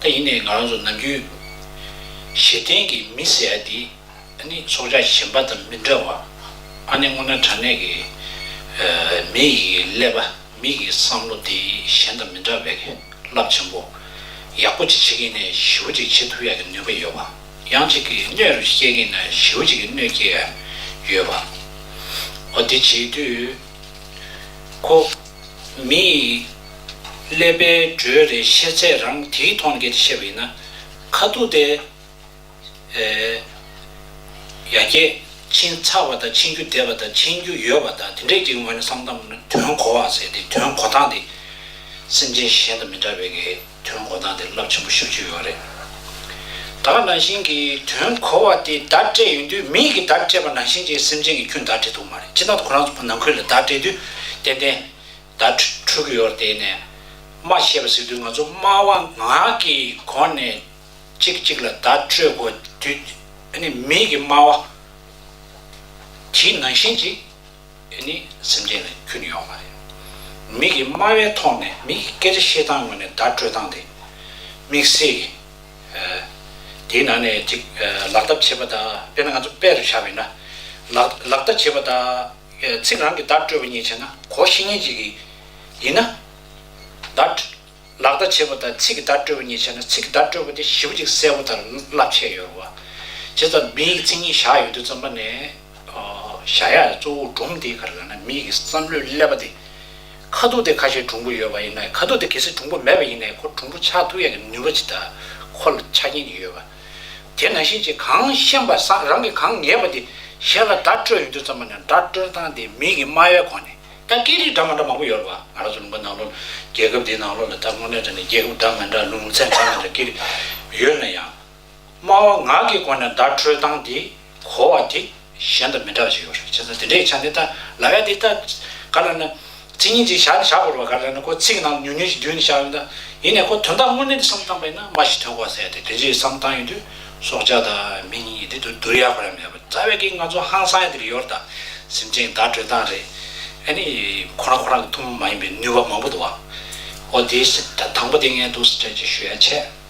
ད་ཡིན་ནའི་ང་རང་ཚོ་ནམ་རྒྱུན། གཞི་རྟེན་གྱི་མི་ཟེར་ཡ་འདི། ནི་ཚོགས་བཅར་གཞན་པ་དང་མི་འདྲ་བ། ཨ་ནེ་སྔོ་ན་དྲ་གནས་ཀྱི། མི་ཡི་ཀླད་པ་མི་ཡི་བསམ་བློ་དེ་གཞན་དང་མི་འདྲ་བས་རླབས་ཆེན་པོ། ཡག་པོ་ཅིག་བྱེད་ཀྱིན་ནས་ཞི་བོ་ཅིག་བྱེད་ཐུབ་ཡ་གི་ནུས་པ་ཡོད་པ། ཡང་ཅིག་གི་སྣོད་རུ་སྐྱེལ་ཀྱིན་ན་ཞི་བོ་ཅིག་གི་སྣོད་སྐྱེལ་ཡ་ཡོད་པ། འོ་དེ་བྱེད་དུས། ཁོ། མི་ཡི། ཀླད་པའི་འགྲོས་རེ་ཤེས་ཚད་རང་དེའི་མཐོང་གེར་ཤེས་པ་ཡིན་ན། ཁ་ཐུག་དེ། ཡ་གྱལ། ཕྱིན་ཚར་བ་དང་ཕྱིན་རྒྱུ་བསྡད་པ་དང་ཕྱིན་རྒྱུ་ཡོད་པ་དང་དེ་འདྲས་ཀྱི་ངོས་ནས་བསམ་སྟངས་ནི་དོན་གོ་བ་ཟེར་ཏེ་དོན་གོ་སྟངས་དེ། སེམས་ཅན་གཞན་དང་མི་འདྲ་བའི་གི་དོན་གོ་སྟངས་དེ་རླབས་ཆེན་པོ་ཤོད་ཀྱི་ཡོད་རེད། བདག་ནང་བཞིན་གྱི་དོན་གོ་བ་དེ་བདག་སྤྲད་ཡོང་དུས་མིའི་གི་བདག་སྤྲད་པ་ནང་བཞིན་གྱི་སེམས་ཅན་གྱི་ཁྱོད་བདག་སྤྲད་ཐུབ་མ་རེད་ཅེས་ན་ཁོ་རང་ཚོ་ནང་ཁུལ་ལ་བདག་སྤྲད་དུས་ཏན་ཏན། དྭ་ཕྲུག་ཡོར་དེ་ནས་སྨྲ་ཤེས་པ་ཟེར་དུས་ང་ཚོ་སྨྲ་བ་ངག་གི་གོ་ནས་གཅིག་གཅིག་ལ་བརྡ་སྤྲོད་དགོས་དུས་ནི་མིག་གི་སྨྲ་བ་དེའི་ནང་བཞིན་ཅིག་ནི་སེམས་ཅན་ལ་ཁྱོན་ཡོང་བ་རེད། མིག་གི་སྨྲ་བའི་ཐོག་ནས་མིག་གི་སྐད་ཆ་བཤད་སྟངས་ངོས་ནས་བརྡ་སྤྲོད་སྟངས་དེ་དམིགས་བསལ་གྱི་དེའི་ནང་ནས་ཅིག་ལག་བསྟར་བྱེད་པ་དང་དཔེར་ན་ང་ཚོ་དཔེ་རུ་བཞག་པས་ན་ལག་བསྟར་བྱེད་པ་དང། ཚིག་རང་གི་བརྡ་སྤྲོད་པ་ཉིད་བྱས་ན་གོ་བཞི་སྙེད་ཅིག་གིས། ཡིན་ན། བརྡ། ལག་བརྡ་བྱེད་པ་དང་ཚིག་གི་བརྡ་སྤྲོད་པ་ཉིད་བྱས་ན་ཚིག་གི་བརྡ་སྤྲོད་པ་དེ་བཞི་པོ་གཅིག་གསལ་པོ་དང་བསླབ་བྱའི་ཡོལ་བ། བྱས་ཙང་མི་ཡི་ཚིག་ཉིད་བཞག་ཡོད་དུས་རྩོམ་པ་ནས། བཞག་ཡ་གཙོ་བོ་སྒྲུང་དེའི་ཁར་ལ་ན་མི་ཡི་བསམ་བློའི་ཀླད་པ་དེ། ཁ་ཐུག་དེ་ཁ་ཤས་གྲུང་པོ་ཡོད་པ་ཡིན་ན་ཁ་ཐུག་དེ་གལ་སྲིད་གྲུང་པོ་མེད་པ་ཡིན་ན་ཁོ་གྲུང་པོ་ཆགས་ཐུག་ཡ་གི་ནུས་པ་ཇི་ལྟར་ཁོ་ལ་ཆ་རྐྱེན་གྱི་ཡོལ་བ། དེ་ན་ཤེས་བྱེད་གང་ཤེས་པ་སངས་རང་གིས་གང་ངེས་པ་དེ་ཤེས་ལ་སྒྲ་སྤྲོད་ཡོད་དུས་ཙམ་པ་ན་སྒྲ་སྤྲོད་སྟངས་དེ་མིག་གི་སྨྲ་བའི་གོ་ནས་ད་སྐད་རིགས་འདྲ་མ་འདྲ་མང་པོ་ཡོད་རེད་བ་ང་རང་ཚོ་ལུང་པ་ནང་ལོ་ལ་རྒྱལ་ཁབ་འདིའི་ནང་ལོ་ལ་ད་དངོས་གནས་དྲན་ན་རྒྱལ་ཁབ་འདྲ་མ་འདྲ་ལུང་ཚན་འདྲ་མ་འདྲ་སྐད་རིགས་ཡོད་ན་ཡང་སྨྲ་བ་ངག་གི་གོ་ནས་སྒྲ་སྤྲོད་སྟངས་དེ། གོ་བ་དེ་གཞན་དང་མི་འདྲ་བ་ཞིག་ཡོད་རེད་བྱས་ཙང་དེ་འདྲའི་ཆ་འདི་ལྟ་ལ་ཡ་འདི་ལྟ། ག་ལ་ན། ཚིག་ཉིན་ཅིག་བཞག་ནས་བཞག་དགོས་རེད་བ་ག་ལ་ན་ཁོ་ཚིག་གི་ནང་དུ་ཉུང་ཉུང་ཞིག་འདུས་ནས་བཞག་ཡོད་ན། ཡིན་ནས་ཁོ་དོན་དག་དངོས་གནས་འདི་བསམ་བཏང་པ་ཡིན་ན་མ་ཞིག་ཐོས་གོ་བ་ཟེར་ཡ་དེ་དེ་འདྲའི་བསམ་བཏང་ཡོད་དུས་སྲོག་ཆགས་དང་མི་གཉིས་ཀྱི་འདི་དུ་བསྡུར་ཡ་གོ་ར་མེད་པ་རྩ་བའི་གིས་ང་ཚོ་ཧང་སང་ཡ་འདི་རུ་ཡོད་རེད་ད། སེམས་ཅན་བདག་སྤྲོད་སྟངས་རེད། ཨ་ནི། ཁོ་རང་ཁོ་རང་གི་ཐུགས་མ་ཡིན་པའི་ནུས་པ་མང་པོ་འདུག་བ། ཨོ་དེའི་སེམས་ད་དང་པོ་དེ་ངས་འདུག་སེ་ཁྲལ་ཅིག་ཞུ་ཡ་བྱས།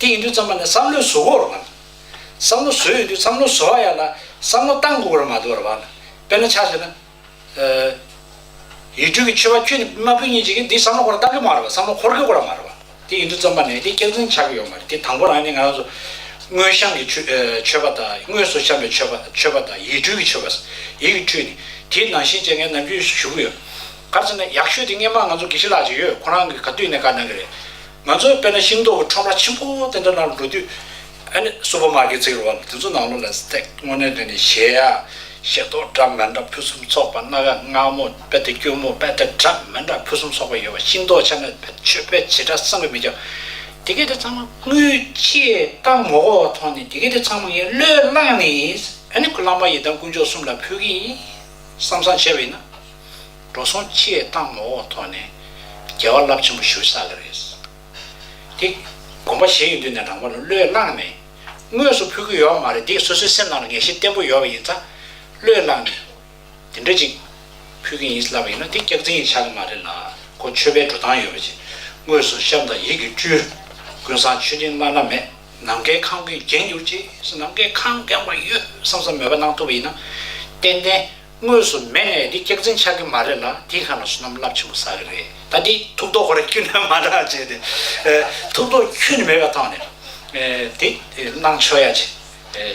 དེ་ཡིན་དུས་རྩམ་པ་ནི་བསམ་བློའི་བཟོ་བོར་བར། བསམ་བློ་བཟོས་ཡོད་དུས་བསམ་བློ་བཟོ་བ་ཡག་ལ་བསམ་བློ་བཏང་དགོས་པར་མ་དོར་བར། དཔེར་ན་ཆ་ཟོས་ན། ཡུལ་དུས་ཀྱི་ཆོས་པ་ཁྱོད་ནི་མ་བུ་གཉིས་བྱེད་ཀྱི་འདིས་བསམ་བློ་འཁོར་བཏང་གི་མ་རེད་བསམ་བློ་འཁོར་དགོས་སྐོར་མ་རེད་བར། དེ་ཡིན་དུས་རྩམ་པ་ནི་དེ་སྐྱག་རྫུན་ཆགས་ཀྱི་ཡོད་མ་རེད་དེ་དང་པོ་རང་ཉིད་ང་རང་ཚོ། དངོས་བཤམས་ཀྱི་ཆོས་པ་དང་དངོས་སུ་བཤམས་པའི་ཆོས་པ་ཆོས་པ་དང་ཡིད་སྤྲུལ་གྱི་ཆོས་པ། ཡིད་ཀྱི་འཕྲུལ་ནི། དེའི་ནང་བཞིན་བཅས་ངས་ནམ་རྒྱུན་ཞུ་གི་ཡོད། ག་ཚོད་ན་ཡག་ཤོས་དེ་སྔས་མ་ང་ཚོ་དགེ་བཤེས་ལགས་ཅིག་ཡོད་ཁོང་རང་གིས་ག་དུས་ནས་བཀའ་གནང་གི་རེད། ང་ཚོས་དཔེར་ན་ཤིང་ཏོག་གི་ཁྲོམ་ར་ཆེན་པོ་དེ་འདྲ་ནང་འགྲོ་དུས། སུའུ་པར་མ་ཀེ་ཚེགས་རོགས་ལ་དེ་ཚོ་ནང་ལོགས་ལ་སྟེགས་སྔོ་ནས་འདོན་ནས་གཞས་ཡ། གཞས་ཏོག་འདྲ་མིན་འདྲ་ཕུན་སུམ་ཚོགས་པ་སྣ་ག་ནག་མོ་དཔེ་དེབ་སྐྱུར་མོ་དཔེ་དེབ་འདྲ་མིན་འདྲ་ཕུན་སུམ་ཚོགས་པ་ཡོད་པ་ཤིང་ཏོག་ཆ་མེད་བེད་སྤྱོད་བེད་བྱེད་འདྲ་བསམ་གྱི་མི་ཁྱབ། དེ་གས་དེ་ཚང་མ་དངུལ་ཆེས་བཏང་མོ་གོ་ཐོག་ནས་དེ་གས་དེ་ཚང་མ་ངས་བློས་བླངས་ནས་ཨ་ནི་ཁུ་ལམ་པ་ཡི་དམ་དཀོན་མཆོག་གསུམ་ལ་ཕུལ་གྱི་ཡིན་བསམ་བསམ་བྱས་པ་ཡིན་ན། འགྲོ་སོང་ཅི་ཡས་བཏང་མོ་འོག་ཐོག་ནས། རྒྱལ་བ་རླབས་ཆེན་པོ་བཞུགས་ས་ལ་རེད། དེ། དགོངས་པ་བཞེས་ཡོད་དུས་ནས་རང་བ་ལོ་བློས་བླངས་ནས། དངོས་སུ་ཕུལ་གྱི་ཡོད་བ་མ་རེད་དེ་སོ་སོའི་སེམས་ནང་ལ་ངེས་ཤེས་བརྟན་པོ་ཡོད་བ་ཡིན་ཙང། བློས་བླངས་ནས། དེ་འདྲ་ཅིག། ཕུལ་གྱི་ཡིན་ལབ་པ་ཡིན་ན་དེ་སྐྱག་རྫིང་ཡིན་ཆགས་གི་མ་རེད་ལ། ཁོ་ཆོས་པའི་འགྲོ་སྟངས་ཡོད་པ་ཅིག། དངོས་སུ་ཤམ་དང་ཡིད་ཀྱི་བཅུད། ཀུན་བཟང་མཆོད་སྤྲིན་བླ་ན་མེད། ནམ་མཁའི་ཁང་བུས་བརྒྱན་གྱུར་ཅིག། ནམ་མཁའི་ཁང་བརྒྱངས་པ་ཡོད་བསམ་བསམ་མོས་པ་གནང་ཐུབ་པ་ཡིན་ན། ཏན་ཏན། དངོས་སུ་མེད་ནས་འདི་སྐྱག་རྫིང་ཆགས་ཀྱི་མ་རེད་ལ་དེ་ཁ་ན་སོ་ནམ་རླབས་ཆེན་པོ་ཟ་གི་རེད་ད་འདི་ཐུགས་དོག་གོར་ཁྱུ་ནས་མ་འདྲ་བ་བྱས་ཏེ་ཐུགས་དོག་ཁྱུ་ནས་མེད་པ་ཐོག་ནས་དེ་གནང་ཆོག་ཡ་ཆེ་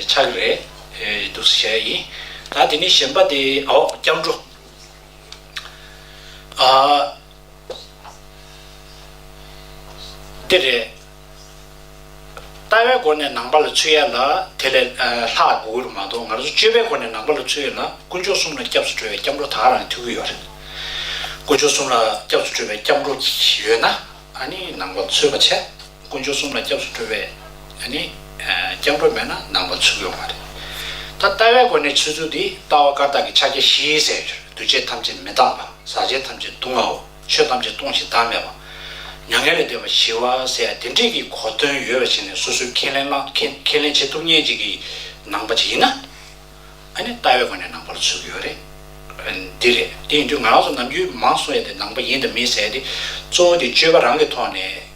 ཆགས་གི་རེད་འདུག་ཟེར་ཡ་ཡིན་ད་དེ་ནས་གཞན་པ་དེ་ཨོ་སྐྱབས་འགྲོ་ཨ་འདི་རེད། ལྟ་བའི་སྒོ་ནས་ནང་པ་ལ་ཚུད་ཡ་ལ་དེ་ལས་ལྷག་དགོས་ཀྱི་རུ་མ་གཏོགས་ང་ཚོ་སྤྱོད་པའི་སྒོ་ནས་ནང་པ་ལ་ཚུད་ཡ་ལ་དཀོན་མཆོག་གསུམ་ལ་སྐྱབས་སུ་གྲོལ་བའི་སྐྱབས་འགྲོ་དག་རང་ཐུག་གི་ཡོད་རེད། དཀོན་མཆོག་གསུམ་ལ་སྐྱབས་སུ་གྲོལ་བའི་སྐྱབས་འགྲོ་ཡོད་ན་ནི་ནང་པ་ཚུད་པ་བྱེད། དཀོན་མཆོག་གསུམ་ལ་སྐྱབས་སུ་གྲོལ་བའི་ནི་སྐྱབས་འགྲོ་མེད་ན་ནང་པ་ཚུད་གི་ཡོད་མ་རེད། ད་ལྟ་བའི་སྒོ་ནས་ཚུད་ཚུལ་འདི་ལྟ་བ་བཀར་བཏགས་ཀྱི་ཕྱག་རྒྱ་བཞིའི་གསལ་བྱེད་རེད་འདུ་བྱེད་ཐམས་ཅད་མི་གཙང་པ་ཟག་བྱེད་ཐམས་ཅད་སྡུག་བསྔལ་བ། ཆོས་ཐམས་ཅད་སྟོང་ཞིང་བདག་མེད་པ། མྱ་ངན་ལས་འདས་པ་ཞི་བ་སྲས་དེ་འདྲས་ཀྱི་གོ་དོན་ཡོད་པ་ཞིག་ནས་སོ་སོས་ཁས་ལེན་ཁས་ལེན་བྱེད་ཐུབ་ཉེན་ཅིག་གི་ནང་པ་ཅིག་ཡིན་ན། ཨ་ནི་ལྟ་བའི་སྒོ་ནས་ནང་པ་ལ་ཚུད་ཀྱི་ཡོད་རེད། འདི་རེད། དེ་ཡིན་དུས་ང་རང་ཚོ་ནམ་རྒྱུན་མང་གསུང་ཡས་དེ་ནང་པ་ཡིན་དང་མིན་ཟེར་ཏེ་གཙོ་བོ་དེ་སྤྱོད་པ་རང་གི་ཐོག་ནས།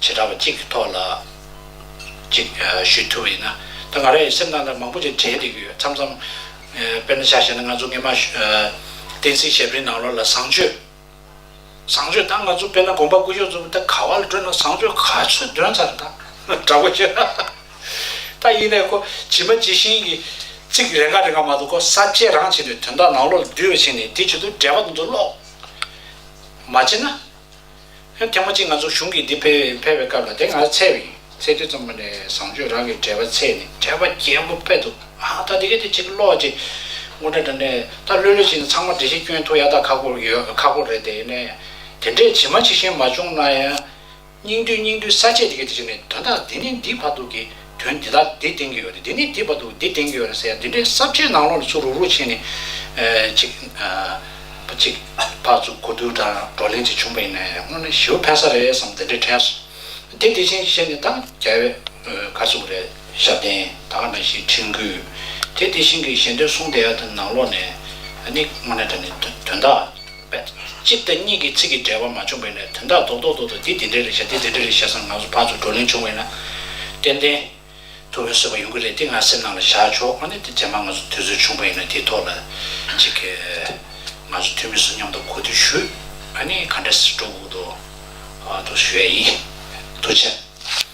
བྱེ་བྲག་པ་གཅིག་གི་ཐོག་ལ་གཅིག་ཞུས་ཐུབ་པ་ཡིན་ན། ད་ང་རང་ཡང་སེམས་ནང་ན་མང་པོ་ཞིག་དྲན་བསྡད་ཀྱི་ཡོད་མཚམས་མཚམས། དཔེར་ན་ཆ་བཤད་ན་ང་ཚོ་སྔས་མ། བསྟན་སྲིད་ཞབས་རིན་ནང་ལོགས་ལ་བཟང་སྤྱོད། བཟང་སྤྱོད་ད་ང་ཚོ་དཔེར་ན་དགོངས་པ་སྐུ་གཞོགས་ཚོ་ད་ག་བ་ལ་སྤྲོད་ན་བཟང་སྤྱོད་ག་ཚོད་འདོན་ཚར་ད་འདྲ་པོ་ཞིག། ད་ཡིན་ནའི་ཁོ་ཇི་མ་ཇི་བཞིན་གྱི། ཚིག་རེ་འགའ་རེ་འགའ་མ་གཏོགས་ཁོ་གསར་བརྗེ་རང་བྱས་པའི་དོན་དག་ནང་ལོགས་ལ་འདུས་པ་ཞིག་ནས་དེ་བྱེད་དུ་འབྲས་བ་དེ་ཚོ་ཀློག། མ་བྱེད་ན། ཧོན་ཐེངས་མ་གཅིག་ང་ཚོ་གཞུང་གིས་འདི་ཕེབས་ཡིན་ཕེབས་པའི་སྐབས་ལ་དེ་སྔར་ཚད་བིན་ཚད་དུས་ཙམ་པ་ནས་བཟང་སྤྱོད་རང་གི་འགྲེལ་པ་ཚད་ནི་འགྲེལ་པ་རྒྱས་པོ་སྤེལ་འདུག་ཨ་ད་འདི་གས་དེ་གཅིག་ཀློག་ཅིག་མགོ་འདྲ་འདྲ་ནས་ད་ལོས་ལོས་བྱས་ནས་ཚང་མ་འགྲེལ་བཤད་སྐྱོན་ཐུག་ཡ་ད་ཁག་པོ་ཡོད་ཁག་པོ་རེད་དེ་ནས་དེ་འདྲས་ཇི་མ་ཇི་བཞིན་མ་བྱུང་ན་ཡང་སྙིང་བསྡུས་སྙིང་བསྡུས་ས་བཅད་འདི་གས་དེ་བྱས་ནས་དོན་དག་འདི་ནས་འདི་བར་དུ་གི། དོན་འདི་དག་འདི་བསྟན་གྱི་ཡོད་རེད་འདི་ནི་འདི་བར་དུ་འདི་བསྟན་གྱི་ཡོད་རེད་ཟེར་ཡ་འདི་འདྲའི་གསར་བརྗེའི་ནང་ལོགས་ལ་ཚུར་རུག་རུག་བྱས་ནས་ཅིག་ཅིག་ཕག་བཙུགས་གོ་བསྡུར་དང་བགྲོ་གླེང་ཅིག་བྱུང་བ་ཡིན་ན་ཡང་སྔོན་ལ་ཞི་བ་ཕན་ས་རེད་བསམ་འདི་འདྲའི་ཁྲལ་སོང་དེ་དེ་བཞིན་བཤད་ནས་ད་རྒྱལ་བས་ཁ་བཙུགས་རེད་ཞབས་བརྟན་ད་ག་ན་ཞིག་ཁྲིམས་བསྐུལ་དེ་དེ་བཞིན་གྱི་ཞལ་འདོན་གསུང་བསྡད་ཡ་དེ་ནང་ལོགས་ནས་ནི་སྔོན་ལ་དྲན་ནས་དོན་དག། པས། གཅིག་དང་གཉིས་ཀྱི་ཚིག་གི་འབྲེལ་བ་མ་བྱུང་བས་ན་དོན་དག་རྡོག་རྡོག་ཏུ་འདོད་དེ་འདི་འདྲའི་རེད་བྱ་འདི་འདི་འདྲའི་རེད་བྱ་སང་ང་ཚོ་བར་དུ་བགྲོ་གླེང་བྱུང་བས་ན། ཏན་ཏན། དུ་བོན་བཟོས་པ་ཡོང་གི་རེད་དེ་ང་སེམས་ནང་ལ་བཞག་ཆོག་ཨ་ནི་དེ་རྗེས་མ་ང་ཚོ་དུས་ཚོད་བྱུང་བས་ན་དེའི་ཐོག་ལ་ཅིག། ང་ཚོ་འཐུས་མི་ཚོ་མཉམ་དུ་གོ་ཐོས་ཞུས། ཨ་ནི་ག་འདྲ་སི་འགྲོ་འུ་འདོ། དུ་བྱས་ཡིན། དུ་བྱས།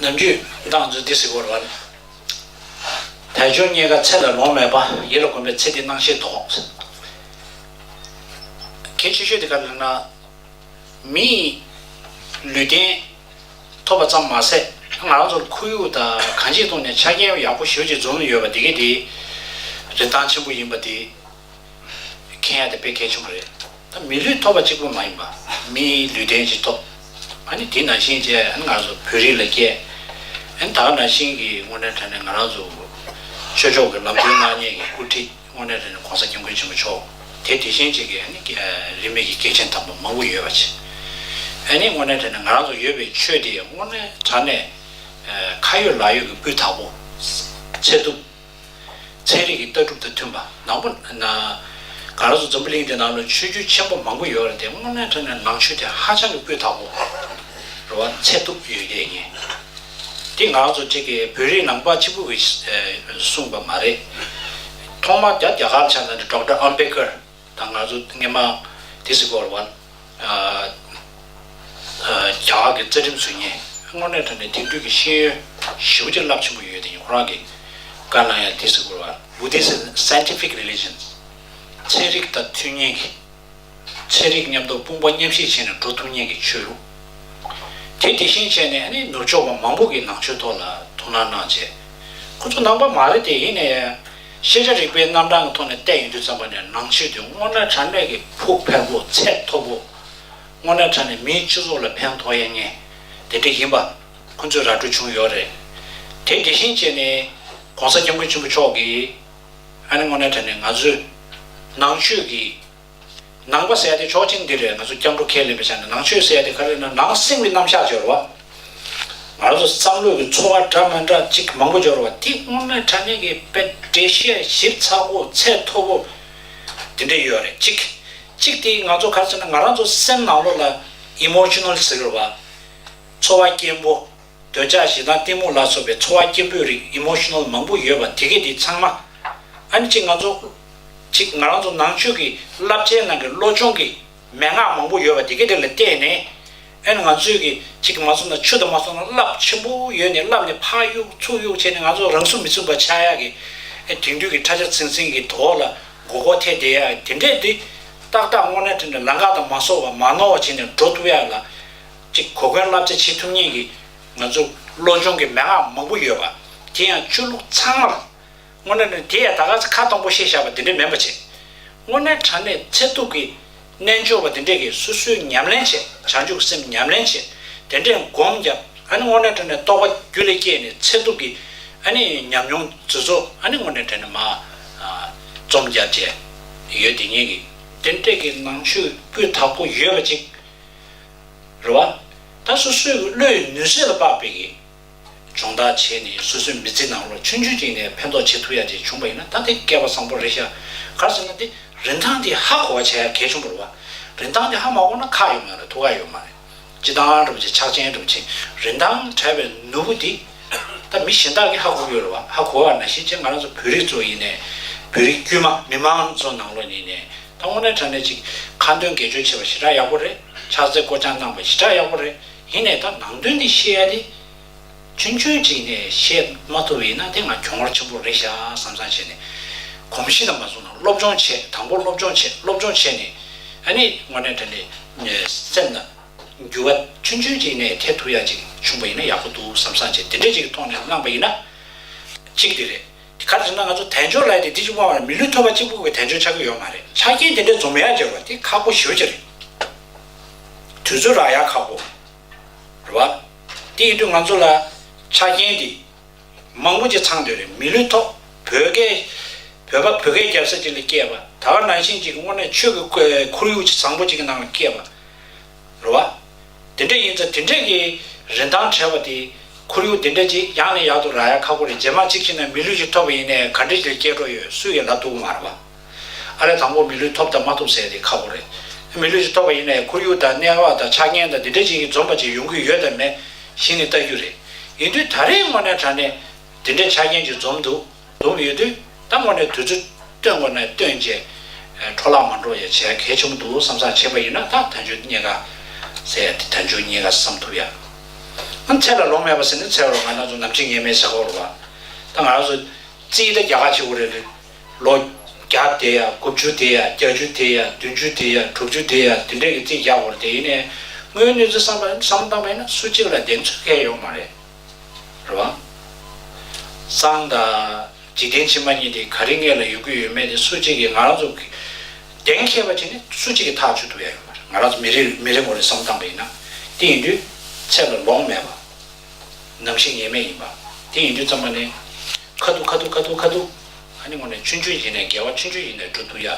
ནམ་རྒྱུན་སྡང་བརྫུན་སྡིག་སྲིན་བོར་བ་ན། དལ་འབྱོར་རྙེད་དཀའ་ཚེ་ལ་ལོངས་མེད་པ། ཡིད་ལ་གོམས་པའི་ཚེ་འདི་སྣང་ཤེས་དོགས། གལ་ཆེ་ཤོས་དེ་ག་ལ་ན། མི་ཡི་ལུས་རྟེན་ཐོབ་པ་ཙམ་མ་ཟད། ང་རང་ཚོར་ཁོར་ཡུག་དང་གང་ཅིའི་སྟོང་ནས་ཆ་རྐྱེན་ཡག་པོ་ཞོད་ཅིག་འཛོམས་ཡོད་པ་འདི་གས་དེའི་རིན་ཐང་ཆེན་པོ་ཡིན་པ་དེ། མཁན་ཡག་དེ་དཔེ་གལ་ཆེན་པོ་རེད། ད་མི་ལུས་ཐོབ་པ་གཅིག་པོ་མ་ཡིན་པ། མིའི་ལུས་རྟེན་གཅིག་ཐོབ། ཨ་ནི་དེ་ནང་བཞིན་བྱས་ཨ་ནི་ང་རང་ཚོ་བོད་རིགས་ལ་སྐྱེས། ཨ་ནི་ད་ནང་བཞིན་གྱི་དངོས་གནས་དྲན་ནས་ང་རང་ཚོ། ཆོས་ཕྱོགས་ཀྱི་ལམ་སྟོན་སྣང་བརྙན་གྱི་སྐུལ་ཁྲིད་དངོས་གནས་དྲན་ནས་གོང་ས་སྐྱབས་མགོན་ཆེན་པོ་མཆོག་དེ་དེ་བཞིན་གཅིག་གིས་ཨ་ནི་རིས་མེད་ཀྱི་སྐྱེས་ཆེན་དམ་པ་མང་པོ་ཡོད་པ་ཆེ། ཨ་ནི་དངོས་གནས་དྲན་ནས་ང་རང་ཚོ་ཡོད་པའི་ཆོས་དེ་དངོས་གནས་དྲན་ནས། ཁ་ཡོད་ལག་ཡོད་ཀྱི་སྤུས་དག་པོ། ཚད་ཐུབ། ཚན་རིག་གི་ལྟ་གྲུབ་དང་མཐུན་པ་ནག་པོ། གངས་རི་སོགས་འཛམ་བུ་གླིང་འདི་ནང་ལ་ཆོས་བརྒྱུད་ཆེན་པོ་མང་པོ་ཡོད་རེད་དེ་སྔོ་ནག་ཁྲ་ནས་ནང་ཆོས་དེ་ཧ་ཅང་གི་སྤུས་དག་པོ་རེད་བ་ཚད་ཐུབ་ཡོད་རེད་ངེས་དེ་ང་རང་ཚོ་ཅིག་གི་བོད་རིགས་ནང་པ་གཅིག་པུ་གིས་གསུངས་པ་མ་རེད་ཐོག་མར་རྒྱ་རྒྱ་གར་ཕྱག་ན་འདི་འབྲོག་སྒྲ་ཨམ་བེ་ཀར། དང་ང་ཚོ་དངོས་མང་དེ་སི་ཀོར་ཝན། རྒྱ་གར་གྱི་རྩ་ཁྲིམས་ཟུར་ཉན་དངོས་གནས་ཐོག་ནས་དེང་དུས་ཀྱི་ཤེས་ཡོན་ཞི་བ་ཅིག་རླབས་ཆེན་པོ་ཡོད་དེ་ཡིན་ཁོ་རང་གི་བཀའ་གནང་ཡང་དེ་སི་ཀོར་ཝན Buddhist is scientific religion ཚན་རིག་དང་ཚུལ་མཉེན་གྱི་ཚན་རིག་མཉམ་དུ་དཔུང་པ་མཉམ་བཞེས་བྱས་ནས་འགྲོ་ཐུབ་མཉན་གྱི་ཆོས་ལུགས་དེ་དེ་བཞིན་བྱས་ནས་ནི་ནུབ་ཕྱོགས་པ་མང་པོ་གི་ནང་ཆོས་ཐོག་ལ་ཐུགས་སྣང་གནང་བྱས་ཁོ་ཚོ་ནང་པ་མ་རེད་དེ་ཡིན་ནའི། ཤེས་བྱ་རིག་པའི་རྣམ་གྲངས་ཀྱི་ཐོག་ནས་བལྟས་ཡོང་རྒྱུ་བརྩམས་པ་ནས་ནང་ཆོས་འདི་སྔོ་ནག་གྲ་མེད་ཀྱི་ཕུགས་ཕལ་པོ་ཚད་མཐོ་པོ། སྔོ་ནག་གྲ་ནས་མིའི་སྤྱི་ཚོགས་ལ་ཕན་ཐོགས་ཡ་ངས་དེ་འདྲ་ཡིན་པ་ཁོ་ཚོས་ར་སྤྲོད་བྱུང་ཡོད་རེད། དེ་དེ་བཞིན་བྱས་ནས ྋགོང་ས ྋསྐྱབས་མགོན་ཆེན་པོ་མཆོག་གིས ྋསྔོ་ནག་གྲ་ནས་ང་ཚོའི་ནང་ཆོས་ཀྱི། ནང་པ་ཟེར་ཡ་དེ་ཆོག་མཆན་འདི་རེད་ང་ཚོ་སྐྱབས་འགྲོ་ཁས་ལེན་པའི་ཆ་ནས་ནང་ཆོས་ཟེར་ཡ་དེ་ག་རེ་ན་ནང་སེམས་ཀྱི་རྣམ་གཞག་སྦྱོར་བ། ང་ཚོ་བསམ་བློ་ཡི་འཚོ་བ་འདྲ་མི་འདྲ་ཅིག་མང་པོ་སྦྱོར་བ་དེ་སྔོན་མའི་དྲ་གནས་ཀྱི་དཔེ་འབྲས་དཔྱད་ཞིབ་ཚགས་པོ་ཚད་མཐོ་པོ་དེ་འདྲ་ཡོད་རེད་ཅིག། གཅིག་དེ་ང་ཚོ་ག་རེ་ཟེར་ན་ང་རང་ཚོ་སེམས་ནང་ལོགས་ལ Emotional ཟེར་བ། འཚོ་བ་སྐྱེན་པོ། འདོད་ཆགས་ཞེ་སྡང་གཏི་མུག་ལ་སོགས་པའི་ཚོར་བ་སྐྱེན་པོའི་རིགས Emotional མང་པོ་ཡོད་པ་དེ་གས་དེ་ཚང་མ། ཨཱ་ནི་གཅིག་ང་ཚོ། གཅིག་ང་རང་ཚོ་ནང་ཆོས་ཀྱི་བསླབ་བྱའི་ནང་གི་བློ་ཆུང་གི་མན་ངག་མང་པོ་ཡོད་པ་དེ་གས་དེ་ལ་བལྟས་ནས། ཨཱ་ནི་ང་ཚོས་གི་གཅིག་གི་མ་ཚོར་ན་ཆུ་དང་མ་ཚོར་ན་རླབས་ཆེན་པོ་ཡོད་ནས་རླབས་ནས་ཕག་གཡུག་ཚུགས་གཡུག་བྱས་ནས་ང་ཚོ་རང་སུ་མི་ཚུགས་པ་ཆགས་ཡག་གི། ཨཱ་དེང་དུས་ཀྱི་ཁྲ་ཆ་ཚིང་ཚིང་གི་དོ་བོ་ལ་མགོ་སྐོར་ཐལ་བསྡད་ཡག་གི་དེ་འདྲས་དེ། ཏག་ཏག་སྔོ་ནལ་ཁྲ་ནས་ལང་ཀ་དང་མ་སོགས་བ་མ་ནོར་བ་བྱས་ནས་འགྲོ་ཐུབ་ཡག་གི་ལ། གཅིག་གོ་སྐོན་བསླབ་བྱ་བྱེད་ཐུབ་ཉེན་གྱི་ང་ཚོ་བློ་སྦྱོང་གི་མན་ངག་མང་པོ་ཡོད་པ། དེ་ཡང་ཆོས་ལུགས་ཚང་མར། དངོས་གནས་ནི་དེ་ཡང་ད་ག་ཚོད་ཁ་སྟོང་པོ་བཤད་བཞག་པ་འདི་འདྲའི་མིན་པ་བྱས། དངོས་གནས་དྲང་གནས་ཚད་ཐུབ་ཀྱི། རྣལ་འབྱོར་བ་འདི་འདྲས་ཀྱིས་སོ་སོའི་ཉམས་ལེན་བྱས་བྱང་ཆུབ་སེམས་ཉམས་ལེན་བྱས། དེ་འདྲས་བསྒོམས་ཀྱང་ཨ་ནི་དངོས་གནས་དྲན་ནས་རྟོགས་པ་རྒྱུད་ལས་སྐྱེས་ནས་ཚད་ཐུབ་ཀྱི། ཨ་ནི་ཉམས་མྱོང་རྫུན་བཟོ་ཨ་ནི་དངོས་གནས་དྲན་ནས་མ། རྩོམ་རྒྱག་བྱས། ཡོད་དེ་ཉེན་གྱི། དེ་འདྲས་ཀྱི་ནང་ཆོས་བརྒྱུད་དག་པོ་ཡོད་པ་གཅིག། རེ་བ། ད་སོ་སོའི་བློའི་ནུས་ཟད་ལ་དཔག་པའི་སྦྱོང་བརྡར་བྱས་ནས་སོ་སོའི་མི་ཚེ་ནང་ལོ་ཆུང་ཆུང་ཅིག་ནས་ཕན་ཐོགས་བྱེད་ཐུབ་ཡ་ཅིག་བྱུང་པ་ཡིན་ན་ད་དེ་སྐལ་པ་བཟང་པོ་རེད་ཤག་ག་ཟེར་ན་དེ་རིན་ཐང་དེ་ཧ་གོ་བ་བྱ་ཡ་གལ་ཆུང་པོ་རེ་བ། རིན་ཐང་དེ་ཧ་མ་གོ་ན་ཁག་ཡོད་མ་རེད་ཐུགས་ཁག་ཡོད་མ་རེད་སྤྱི་བཏང་གྲུབ་ཆེན་ཕྱག་ཆེན་གྲུབ་ཆེན་རིན་ཐང་བྲལ་བའི་ནོར་བུ་དེ་ད་མི་གཞན་དག་གིས་ཧ་གོ་གི་ཡོད་རེ་བ་ཧ་གོ་བ་ན་གཞིས་བྱེས་ང་རང་ཚོ་བོད་རིགས་ཚོ་ཡིན་ནས་བོད་རིགས་དཀྱུས་མ་མི་མང་ཚོ་ནང་ལོ་ནས་ནས་ད་དངོས་གནས་དྲ་གནས་ཅིག་ཁ་འདོན་དགེ་སྤྱོད་བྱེད་པ་ཞེ་དྲག་ཡག་པོ་རེད་ཕྱག་འཚལ་བསྐོ་སྦྱང་གནང་བ་ཞེ་དྲག་ཡག་པོ་རེད་ཡིན་ནས་ད་ནང་དོན་འདི་ཤེས་ཡ་དེ་ཆུན་ཆུན་ཅིག་ནས་ཤེས་མ་ཐུབ་ཡིན་ན་དེ་ང་གྱོང་བར་ཆེན་པོ་རེད་ཤག་བསམ་བསམ་བྱས་ནས་གོམས་གཤིས་དང་མ་བཟུང་ན་སློབ་སྦྱོང་བྱེད་དང་པོ་སློབ་སྦྱོང་བྱེད་སློབ་སྦྱོང་བྱས་ནས་ཨ་ནི་དངོས་གནས་དྲ་གནས་སེམས་ལ་འགྱུ་བ་ཆུན་ཆུན་ཅིག་ནས་ཐེབས་ཐུབ་ཡ་ཅིག་བྱུང་བ་ཡིན་ན་ཡག་པོ་འདུག་བསམ་བསམ་བྱས་དེ་འདྲས་ཅིག་ཐོག་ནས་བླངས་པ་ཡིན་ན་གཅིག་དེ་རེད། ག་རེ་བྱས་ན་ང་ཚོ་དལ་འབྱོར་ལས་དེ་འདི་གཅིག་པུ་མ་རེད་མི་ལུས་ཐོད་པ་གཅིག་པུ་གི་དལ་འབྱོར་ཆགས་ཀྱི་ཡོད་མ་རེད་ཆ་རྐྱེན་དེ་འདྲའི་འཛོམས་ཡ་རྒྱག་པ་དེ་ཁག་པོ་ཞེ་བོ་ཅི་རེད། དུས་ཚོད་རག་ཡ་ཁག་པོ་རེད་བ། དེ་ཡིན་དུས་ང་ཚོ་ལ་ཆ་རྐྱེན་དེ་མང་པོ་ཅིག་ཚང་འདོད་རེད་མི་ལུས་ཐོག་བོད་སྐད་བོད་པ་བོད་སྐད་རྒྱབ་ས་ཅིག་ལ་སྐྱེས་པ་ད་བར་ནང་བཞིན་ཅིག་དངོས་གནས་ཆོས་ཀྱི་ཁོར་ཡུག་ཅིག་བཟང་པོ་ཅིག་གི་ནང་ལ་སྐྱེས་པ། རུ་བ། དེ་འདྲས་ཡིན་ཚེ་དེ་འདྲས་ཀྱི་རིན་ཐང་བྲལ་བ་དེ། ཁོར་ཡུག་དེ་འདྲས་ཀྱིས་ཡག་ནས་ཡག་ཏུ་རག་ཡ་ཁ་ཁོ་རེ་རྗེས་མ་གཅིག་ཕྱིན་ན་མི་ལུས་ཤིག་ཐོབ་པ་ཡིན་ནས་ག་འདྲས་ཀྱིས་སྐྱེ་འགྲོ་ཡོད་སུ་ཡི་ལ་སྡུག་མ་རུ་བ། ཨ་རེ་དང་པོ་མི་ལུས་ཐོབ་དང་མ་ཐོབ་ཟེར་དེ་ཁ་ཁོ་རེ། མི་ལུས་ཤིག་ཐོབ་པ་ཡིན་ནས་ཁོར་ཡུག་དང་གནས་བབ་དང་ཆ་རྐྱེན་དང་དེ་འདྲས་ཅིག་གིས་འཛོམས་པ་ཅིག་ཡོང་གི་ཡོད་དམ་མེད་གཞི་ནས་བལྟ་རྒྱུ་རེད། ཡིན་དུས་ད་རེས་དངོས་གནས་དྲ་གནས་དེ་འདྲས་ཆ་རྐྱེན་ཅིག་འཛོམས་འདུག། འདུག་ཡོད་དུས་ད་ངོ་ནས་དུས་ཚོད་སྟོན་དགོས་ན་སྟོན་རྗེས་འཕྲོ་བརླག་མ་འགྲོ་ཡ་བྱས་གལ་ཆེན་པོ་འདུག་བསམ་བསམ་བྱས་པ་ཡིན་ན་ད་དོན་གཅོད་རྙེད་ག་ཟེར་ཡ་དེ་དོན་གཅོད་རྙེད་ག་བསམ་ཐུབ་ཡ། ཨང་ཚད་ལ་ལོང་མེད་པ་ཟེར་ནི་ཚེ་རོགས་ང་ནག་ཚོ་ནམ་ཕྱིན་ངེས་མེད་ཟེར་ཁོག་རུ་བ། ད་ང་རང་ཚོ་རྩིས་ད་རྒྱ་ཁ་ཆེ་བོ་རེད་རེད། ལོ་བརྒྱ་དེ་ཡ་དགུ་བཅུ་དེ་ཡ་བརྒྱ་ཅུ་དེ་ཡ་བདུན་བཅུ་དེ་ཡ་དྲུག་བཅུ་དེ་ཡ་དེ་འདྲས་ཀྱི་རྩིས་རྒྱག་དགོས་རེད་དེ་ཡིན་ནས་དངོས་གནས་རྩིས་བསམ་བསམ་བཏང་བ་ཡིན་ན་སུ་གཅིག་ལ་གདེང་ཚོད་ཁེལ་ཡོང་མ་རེད། རེད། རེད་བ། སང་ད། འཇིག་རྟེན་ཕྱི་མ་གཉིས་དེ་ག་རེ་ངེད་ལ་ཡོད་གི་ཡོད་མེད་དེ་སུ་གཅིག་གིས་ང་རང་ཚོ། གདེང་ཁེལ་བ་དེ་ནི་སུ་གཅིག་གིས་ཐག་གཅོད་ཐུབ་ཡ་ཡོད་མ་རེད་ང་རང་ཚོ་མི་རེ་མི་རེ་ངོ་རེ་བསམ་སྟངས་པ་ཡིན་ན། དེ་ཡིན་དུས། ཚད་ལ་ལོངས་མེད་པ། ནམ་ཞིག་ངེས་མེད་ཡིན་པ། དེ་ཡིན་དུས་རྩམ་པ་ནི། ཁ་ཐུག་ཁ་ཐུག་ཁ་ཐུག་ཁ་ཐུག། ཨ་ནི་ངོ་ནས་ཆུ་མཆུ་ཡིན་ནས་འགལ་བ་ཆུ་མཆུ་ཡིན་ནས་འགྲོ་འདུག་ཡ།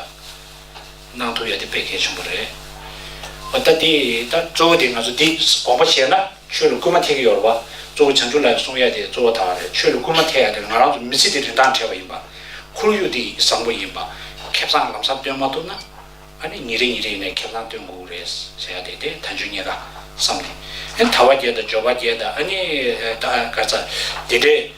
གནང་ཐུབ་ཡོད་དེ་དཔེ་གལ་ཆེན་པོ་རེད། འོ་ད་དེ་ད་གཙོ་བོ་དེ་ང་ཚོ་འདི་དགོངས་པ་བཞེས་ན་ཆོས་ལ་སྐུལ་མ་ཐེག་གི་ཡོད་རེད་པ། གཙོ་བོ་བྱང་ཆུབ་ལ་ཡང་གསུངས་ཡས་དེ་གཙོ་བོ་དག་རེད་ཆོས་ལ་སྐུལ་མ་ཐེག་ཡ་དེ་ང་རང་ཚོ་མི་ཚེ་འདི་རིན་ཐང་བྲལ་བ་ཡིན་པ། ཁོར་ཡུག་འདི་བཟང་པོ་ཡིན་པ། ཁེ་བཟང་ལམ་བཟང་སྟོན་མ་ཐུབ་ན། ཨ་ནི་ཉིན་རེ་ཉིན་རེ་ཡིན་ནའི་ཁེ་བཟང་སྟོན་དགོས་ཀྱི་རེད་ཟེར་ཡ་དེ་དེ་ད་འཇོན་ཉེས་ཀ་བསམ་ནས། ཨ་ནི་དར་བ་རྒྱས་དང་འབྱོར་བ་རྒྱས་དང་ཨ་ནི་ད་ག་ཚ་དེ་འདྲའི།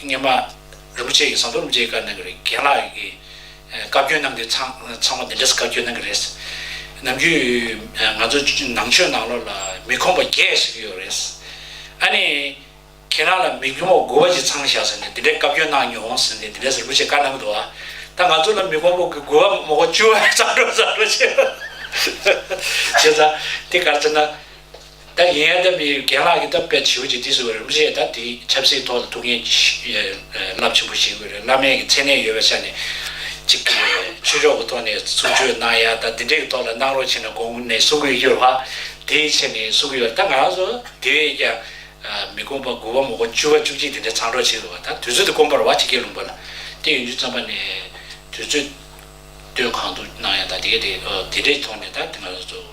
སྙེ་མ་རིན་པོ་ཆེ་ཡི་ཟངས་མདོག་རིན་པོ་ཆེ་ཡི་བཀའ་གནང་གི་རེད་རྒན་ལགས་ཡི་གི་བཀའ་བཀྱོན་གནང་གི་ཚང་ཚང་མ་འདི་འདྲས་བཀའ་བཀྱོན་གནང་གི་རེད། ནམ་རྒྱུན་ང་ཚོ་ནང་ཆོས་ནང་ལོགས་ལ་མི་ཁོམ་པ་རྒྱས་ཞིག་ཡོད་རེད། ཨ་ནི་ཁྱེད་རང་ལ་མི་ཁོམ་པ་དགོས་པ་ཅིག་ཚང་བཞག་ཟེར་ནས་འདི་འདྲས་བཀའ་བཀྱོན་གནང་མྱོང་ཟེར་ནས་འདི་འདྲས་རིན་པོ་ཆེ་བཀའ་གནང་གི་འདུག་ད་ང་ཚོ་ལ་མི་ཁོམ་པ་དགོས་པ་མོག་པ་བཅུ་བ་བཟང་འགྲོ་བཟང་འགྲོ་བྱེད་པ། བྱས་ཙང་དེ་གར་ཚེ་ན། ད་ཡིན་ཡང་ད་མི་རྒན་ལགས་ཀྱི་ད་དཔེ་བྱིའུ་གཅིག་འདི་སུ་རིན་པོ་ཆེ་ད་དེ་ཆབ་སྲིད་ཐོག་ལ་ཐུགས་འགན་རླབས་ཆེན་པོ་བཞེས་དགོས་རེད་བླ་མེད་ཀྱི་མཚན་གནས་ཡོད་པའི་ཆ་ནས་གཅིག་གི་ཆོས་ཕྱོགས་ཀྱི་ཐོག་ནས་ཚུགས་ཆོས་གནང་ཡ་ད་འདི་འདྲས་ཀྱི་ཐོག་ལ་གནང་རོགས་བྱས་ན་དགོངས་ནས་གསུང་གི་ཡོད་ལགས་དེའི་ཆེད་ནས་གསུང་གི་ཡོད་ད་ང་རང་ཚོ་དེ་བས་ཀྱང་མི་དགོངས་པ་དགུ་བ་མོག་པ་བཅུ་བ་བཅུ་གཅིག་དེ་འདྲས་ཚང་འགྲོགས་བྱེད་དགོས་པ་ད་དུས་ཚོད་དེ་དཀོན་པར་བ་ཇི་སྐད་ལུང་པ་ལ་བལྟས་ཡོང་རྒྱུ་བརྩམས་པ་ནས་དུས་ཚོད་ལྟོས་གང་དུ་གནང་ཡ་ད་དེ་ག་དེ་འདྲས་ཀྱི་ཐོག་ནས་ད་ང་རང་ཚོ།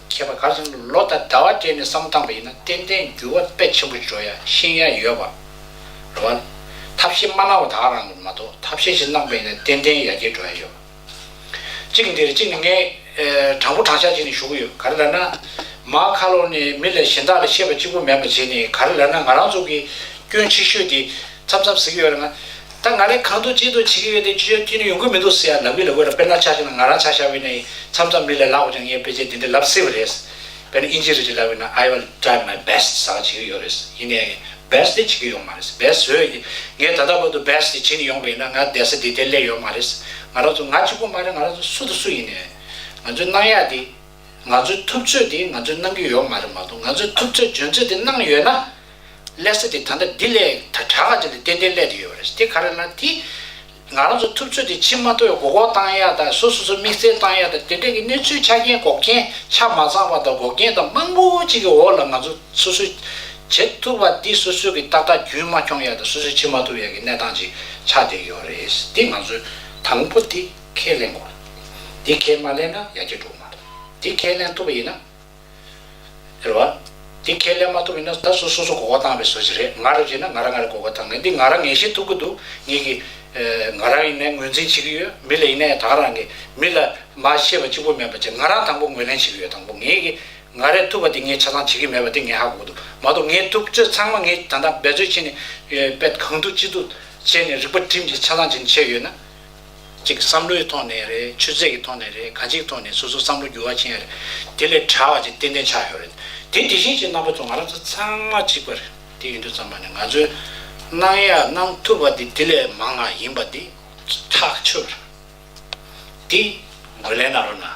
མཁས་པ་ག་ཚོད་ལོ་དང་ཟླ་བ་སྤྲད་ནས་བསམ་བཏང་བ་ཡིན་ན་ཏན་ཏན་འགྱུར་བ་དཔེ་ཆེན་པོ་འཇོག་ཡ་ཤེས་ཡ་ཡོད་པ་རེད་བ། ཐབས་ཤེས་མ་གནང་བ་དག་རང་གི་མ་གཏོགས་ཐབས་ཤེས་ཞིག་གནང་པ་ཡིན་ན་ཏན་ཏན་ཡ་རྒྱས་འགྲོ་ཡ་ཡོད་པ། གཅིག་གི་འདིར་གཅིག་ནི་ངས་དྲང་པོ་དྲང་བཞག་བྱས་ནས་ཞུ་གི་ཡོད་ག་རེ་ལབ་ན། མ་ཁ་ལོ་ནས་མི་ལ་གཞན་དག་ལ་ཤེས་པ་གཅིག་པོ་མེད་པ་བྱས་ནས་ག་རེ་ལབ་ན་ང་རང་ཚོ་གི་སྐྱོན་ཆེ་ཤོས་དེ་མཚམས་མཚམས་ཟིག་ཡོད་ན། ད་ང་རེ་གང་འདུག་ཅི་འདུག་བྱེད་ཀྱི་ཡོད་དེ་ཆུ་ཤར་ཁྱི་ནི་ཡོང་གི་མི་འདུག་ཟེར་ཡ་ལབ་གི་ལབ་གི་ལ་དཔེར་ན་ཆ་བཞག་ན་ང་རང་ཆ་བཞག་བས་ན་ཡིན་མཚམས་མཚམས་མི་ལས་ལགས་པ་ཀྱང་ངས་དཔེ་ཆ་འདི་འདྲ་ལབ་སྲིད་པ་རེད། དཔེར་ན་ཨིན་ཇི་རེད་ཅེས་ལབ་བས་ན I will try my best ཟ་བ་བྱེད་ཀྱི་ཡོད་རེད། ཡིན་ནའི་ཡང best དེ་བྱེད་ཀྱི་ཡོད་མ་རེད། best བཟོས་ཀྱི། ངས་ད་ལྟ་བར་དུ best དེ་བྱེད་ནས་ཡོང་བས་ན་ང་བསྡད་ས་འདི་དེར་སླེབས་ཡོད་མ་རེད། ང་རང་ཚོ་ང་གཅིག་པོ་མ་རེད་ང་རང་ཚོ་སུ་དང་སུ་ཡིན་ནའི། ང་ཚོའི་གནང་ཡག་དེ། ང་ཚོའི་ཐུབ་ཚོད་དེ་ང་ཚོས་གནང་གི་ཡོད་མ་རེད་མ་གཏོགས་ང་ཚོས་ཐུབ་ཚོད་འཇོན་ཚོད་དེ་གནང་ཡོད་ན། ཀླད་ས་དེ་ད་ལྟ་འདི་ལས་ད་གྲགས་ཀ་ཅིག་ལ་ཏན་ཏན་ཀླད་དེ་ཡོད་པ་རེད་དེ་ག་རེ་ན་དེ་ང་རང་ཚོ་ཐུབ་ཚོད་དེ་ཕྱི་མ་མཐོ་བའི་གོག་འོག་བཏང་ཡག་དང་སོ་སོ་ཚོ་དམིགས་བསལ་བཏང་ཡག་དང་དེ་འདྲ་གི་གནས་ཚུལ་ཆ་རྐྱེན་གོག་རྐྱེན་ཆ་མ་ཚང་བ་དང་འགོག་རྐྱེན་དང་མང་པོ་ཅིག་གི་འོག་ལ་ང་ཚོ་སོ་སོས་བྱེད་ཐུབ་པ་འདི་སོ་སོ་གི་ཏག་ཏག་རྒྱུན་མ་འཁྱོངས་ཡག་དང་སོ་སོས་ཕྱི་མ་ཐུབ་ཡག་གི་གནས་སྟངས་ཅིག་ཆགས་བསྡད་ཡོད་རེད་དེ་ང་ཚོས་དང་པོ་དེ་ཁས་ལེན་དགོས་རེད་དེ་ཁས་མ་ལེན་ན་ཡག་སྐྱ་འགྲོ་མ་རེད་དེ་ཁས་ལེན་ཐུབ་པ་ཡིན་ན། རེད་བ། དེ་ཁས་ལེན་མ་ཐུབ་ཡིན་ན་ད་སུ་སོ་སོ་གོ་བ་བཏང་བའི་བཟོ་བྱེད་རེད་ང་རེ་བྱས་ན་ང་རང་ང་རེ་གོ་བ་བཏང་ངེས་འདི་ང་རང་ངེས་ཤེས་ཐུབ་ཀྱི་འདུག་ངེད་ཀྱི། ང་རང་ཡིན་ནའི་ངོས་འཛིན་བྱེད་ཀྱི་ཡོད་མི་ལ་ཡིན་ནའི་དང་རང་གི་མི་ལ་མ་ཤེས་པ་གཅིག་པོ་མེད་པ་བྱས་ང་རང་དང་པོ་ངོས་ལེན་བྱེད་ཀྱི་ཡོད་དང་པོ་ངེད་ཀྱི་ང་རེ་ཐུབ་པ་དེ་ངས་ཆ་ཚང་བྱེད་ཀྱི་མེད་པ་དེ་ངས་ཧ་གོ་འདུག་མ་གཏོགས་ངས་ཐུབ་ཚོད་ཚང་མ་ངས་ད་ལྟ་འབད་རྩོལ་བྱས་ནས་པད་གང་འདུག་ཅི་འདུག་བྱས་ནས་རིག་པ་བསྒྲིམས་ཀྱིས་ཆ་ཚང་བྱས་ནས་བྱས་ཡོད་ན། གཅིག་བསམ་བློའི་ཐོག་ནས་རེད་ཆུ་ཚད་ཀྱི་ཐོག་ནས་རེད་གང་ཅིག་ཐོག་ནས་སོ་སོ་བསམ་བློ་འགྱུར་བ་ཕྱིན་ཡོད་རེད་དེ་ལས་གྲྭ་བ་ཅིག་ཏན་ཏན་ཆགས་ཡོད་རེད་དེ་དེ་བཞིན་གཅིག་རྣམ་པ་ཚོ་ང་རང་ཚོ་ཚང་མ་གཅིག་པ་རེད་དེ་ཡིན་དུས་བརྩམས་པ་ནི་ང་ཚོའི་གནང་ཡ་གནང་ཐུབ་པ་དེ་དེ་ལས་མང་ང་ཡིན་པ་དེ་ཐག་ཆོད་རེད་དེ་འགོས་ལན་གནང་རོགས་གནང།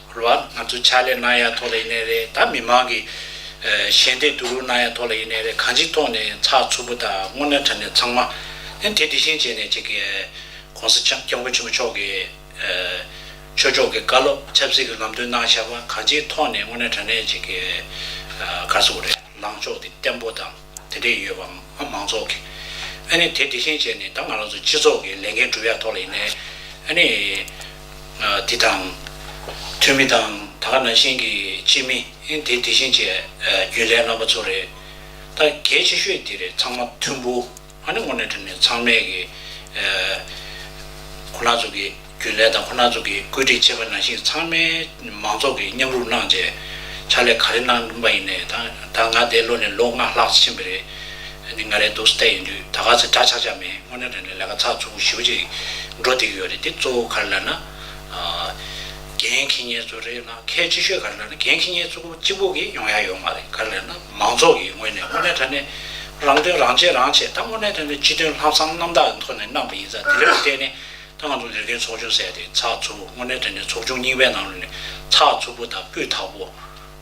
རུ་བ་ང་ཚོ་ཕྱག་ལས་གནང་ཡ་ཐོག་ལ་ཡིན་ནའི་རེད་ད་མི་མང་གི་ཞལ་འདེབས་བསྡུ་རུག་གནང་ཡ་ཐོག་ལ་ཡིན་ནའི་རེད་གང་ཅིའི་ཐོག་ནས་ཚགས་ཚུད་པོ་དང་སྔོ་ནན་ཁྲ་ནས་ཚང་མ་ནས་དེ་དེ་བཞིན་བྱས་ནས་ཅིག་གོང་ས་སྐྱབས་མགོན་ཆེན་པོ་མཆོག་གི་ཆོས་ཕྱོགས་ཀྱི་བཀའ་སློབ་ཆབ་སྲིད་ཀྱི་ལམ་སྟོན་གནང་བཞག་པ་གང་ཅིའི་ཐོག་ནས་སྔོ་ནན་ཁྲ་ནས་ཅིག་གར་སོ་གོ་རེ་ལངས་ཕྱོགས་དེ་བརྟན་པོ་དང། དེ་འདྲས་ཡོད་པ་ང་མང་ཚོགས་ཀྱི། ཨ་ནི་དེ་འདྲས་ཤེས་བྱས་ནས་ད་ང་རང་ཚོ་སྤྱི་ཚོགས་ཀྱི་ལས་འགན་སྒྲུབ་ཡག་ཐོག་ལ་ཡིན་ནའི། ཨ་ནི། འདི་དང། འཐུས་མི་དང་ད་ག་ནང་བཞིན་གྱི་སྤྱི་མི་ཨི་འདི་འདྲས་ཤེས་བྱས་རྒྱུན་ལས་རྣམ་པ་ཚོ་རེད། ད་གལ་ཆེ་ཤོས་འདི་རེད་ཚང་མ་མཐུན་པོ་ཨ་ནི་དངོས་གནས་དྲན་ནས་ཚང་མས་ཀྱི། ཁོ་ན་ཚོ་གི། རྒྱུན་ལས་དང་ཁོ་ན་ཚོ་གིས་བཀོད་སྒྲིག་བྱས་པ་ནང་བཞིན་ཚང་མས་མང་ཚོགས་ཀྱིས་མཉམ་རུབ་གནང་རྗེས་ཕྱག་ལས་ག་རེ་གནང་གིན་པ་ཡིན་ནའི་ད་ད་ང་འདས་ལོ་ནས་ལོ་ལྔ་ལྷག་ཕྱིན་པ་རེད། འདི་ང་རེ་འདུག་སྟེགས་ཡིན་དུས་ད་ག་ཚོད་འདྲ་ཆགས་ཆགས་མེད་དངོས་གནས་དྲན་ནས་ལས་ཀ་ཚགས་ཚུད་པོ་ཞུ་བ་ཅིག་འགྲོ་བསྡད་ཀྱི་ཡོད་རེད་དེ་གཙོ་བོ་ག་རེ་ལབ་ན། རྒན་མཁས་ཉེན་ཚོ་རེད་ལ་གལ་ཆེ་ཤོས་ག་རེ་ལབ་ན་རྒན་མཁས་ཉེན་ཚོ་གཅིག་པོ་གིས་ཡོང་ཡ་ཡོད་མ་རེད་ག་རེ་ལབ་ན་མང་ཚོགས་ཀྱིས་དངོས་གནས་དངོས་གནས་དྲན་ནས་རང་དོན་རང་བྱས་རང་བྱས་ད་དངོས་གནས་དྲན་ནས་སྤྱི་དོན་ལྷག་བསམ་རྣམ་དག་གི་ཐོག་ནས་གནང་པ་ཡིན་ཙང་དེ་ལས་ལྡོག་སྟེ་ནས། ཏང་ཙུའུ་ལས་ཀའི་ཚོགས་ཆུང་བསལ་ཏེ་ཚགས་ཚུད་པོ་དངོས་གནས་དོན་དུ་ཚོགས་ཆུང་རྙིང་པའི་ནང་རུལ་ནས་ཚགས་ཚུད་པོ་དང་སྤུས་དག་པོ།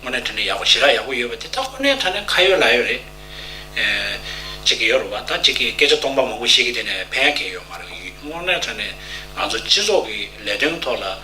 དངོས་གནས་དོན་དུ་ཡག་པོ་ཞི་རགས་ཡག་པོ་ཡོད་པ་དེ་དག་ཁོ་ནའི་ཐ་ན་ཁ་ཡོད་ལག་ཡོད་རེད། གཅིག་གི་ཡོད་རེད་བ་དང་གཅིག་གིས་སྐད་ཆ་སྟོང་པ་མང་པོ་བཤད་ཀི་དེ་ནས་ཕན་ཡག་གི་ཡོད་མ་རེད་དངོས་གནས་ཐ་ན་ང་ཚོ་སྤྱི་ཚོགས་ཀྱི་ལས་དོན་ཐོག་ལ།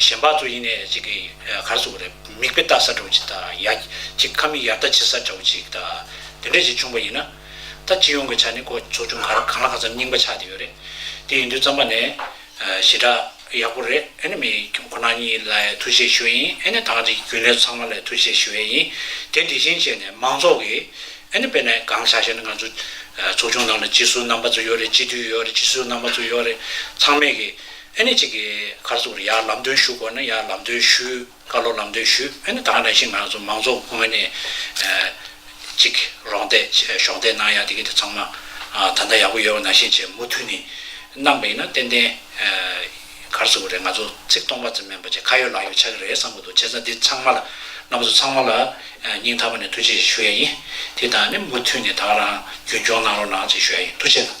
གཞན་པ་ཚོ་ཡིན་ནས་ཅིག་གིས་གར་བཟོ་བ་རེད་མིག་དཔེ་བལྟ་ས་འདྲ་བོ་ཅིག་དང་ཡ་ཅིག་ཁ་མིག་ཡར་ལྟ་བྱེད་ས་འདྲ་བོ་ཅིག་དང་དེ་འདྲ་ཅིག་བྱུང་བ་ཡིན་ན། ད་སྤྱི་ཡོངས་ཀྱི་ཆ་ནས་ཁོ་ཚོ་ཅུང་ག་རེ་གང་ལ་གང་འཚམ་སྙིང་པ་ཆགས་བསྡད་ཡོད་རེད། དེ་ཡིན་དུས་རྩམ་པ་ནས་ཞེ་དྲགས་ཡག་པོ་རེད་ཨེ་ནི་མི་ཁོ་ན་གཉིས་ལ་ཐུགས་རྗེ་ཞུ་བས་ཡིན་ཨེ་ནི་ཐང་རིགས་ཀྱི་རྒྱུན་ལས་ཚང་མ་ལ་ཐུགས་རྗེ་ཞུ་བས་ཡིན་དེ་འདི་བཞིན་བྱས་ནས་མང་ཚོགས་ཀྱིས་ཨེ་ནི་དཔེ་ན་གང་ཆགས་ཤེ་ན་ང་ཚོ་ཚོགས་ཆུང་ནང་ལ་སྤྱི་ཟུར་རྣམ་པ་ཚོ་ཡོད་རེད་སྤྱི་འཐུས་ཡོད་རེད་སྤྱི་ཟུར་རྣམ་པ་ཚོ་ཡོད་རེད་ཚང་མས་ཀྱིས། ཨེ་ནི་གཅིག་གི་གར་ཟུག་རི་ཡར་ལམ་སྟོན་ཞུ་དགོས་ན་ཡར་ལམ་སྟོན་ཞུ། ཀ་ལོ་ལམ་སྟོན་ཞུ་ཨེ་ནི་དང་ནས་ཤིང་ནག་མང་ཚོགས་དགོན་ཨེ་ནི་གཅིག་རོང་བསྡད་གཞོགས་བསྡད་གནང་ཡག་དེ་གི་དེ་ཚང་མ་ད་ལྟ་ཡག་པོ་ཡོད་བ་ནང་བཞིན་བྱས་མུ་འཐུད་ནི་གནང་པ་ཡིན་ན་ཏན་ཏན་གར་ཟུག་རེད་ང་ཚོ་ཚིག་སྟོང་པ་ཙམ་མིན་པ་ཆེ་ཁ་ཡོད་ལག་ཡོད་ཆགས་ཀྱི་རེད་བསམ་གྱི་འདུག་བྱས་ཙང་འདི་ཚང་མ་ལ་ནང་ཚོ་ཚང་མ་ལ་སྙིང་ཐག་པ་ནས་ཐུགས་རྗེ་ཞུ་ཡ་ཡིན་དེ་དང་ནི་མུ་འཐུད་ནི་དང་རང་རྒྱུན་འཁྱོངས་གནང་རོགས་གནང་ཅེས་ཞུ་ཡ་ཡིན་ཐུགས་རྗེ།